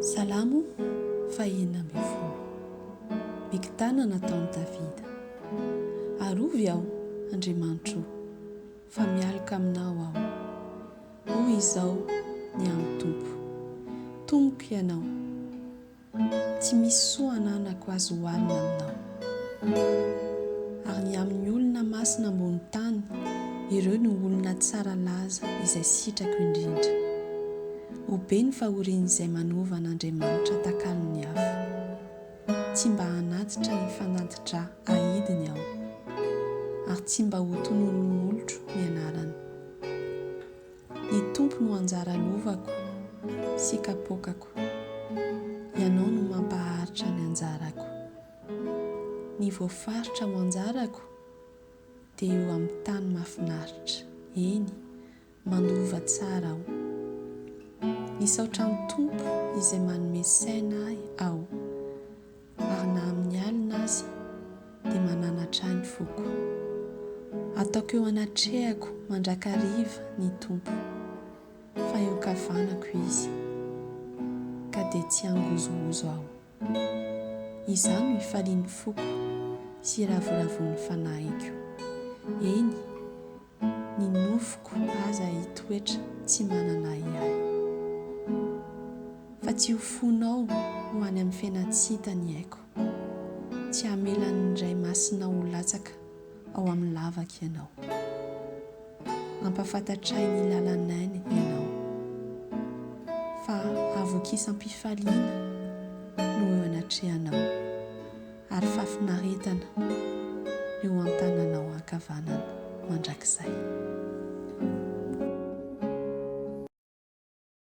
Salamo fahenina ambin'ny folo. Miktana nataon'i Davida. Arovy aho, Andriamanitro o, fa mialoka aminao aho. Hoy izao ny amin'ny Tompo, Tomoko ianao, Tsy misy soa ananako azo hohanina aminao. Ary ny amin'ny olona masina ambony tany, ireo no olona tsara laza izay sitrako indrindra. Ho be ny fahorian'izay manova an'Andriamanitra takalon'ny afo. Tsy mba hanatitra ny fanati-dra ahidiny aho, ary tsy mba ho tononin'olotro ny anarany. Ny Tompo no anjara lovako sy kapoakako, Ianao no mampaharitra ny anjarako. Ny voafaritra ho anjarako dia eo amin'ny tany mahafinaritra, eny, mandova tsara aho. Misaotra ny Tompo izay manome saina ahy aho. Ary na amin'ny alina aza dia mananatra ahy ny foko. Ataoko eo anatrehako mandrakariva ny Tompo, fa eo kavanako Izy, ka dia tsy hangozohozo aho. Izaho no ifalian'ny foko sy iravoravoan'ny fanahiko, eny, Ny nofoko aza hitoetra tsy manana ahiahy. Fa tsy ho fonao ho any amin'ny fiainantsy hita ny aiko. Tsy hamelan'ny Ray Masinao ho latsaka ao amin'ny lavaka ianao. Ampahafantatray ny lalan'ainy ianao. Fa havokisam-pifaliana no eo anatrehanao. Ary fahafinaretana eo an-tananao ankavanana mandrakizay.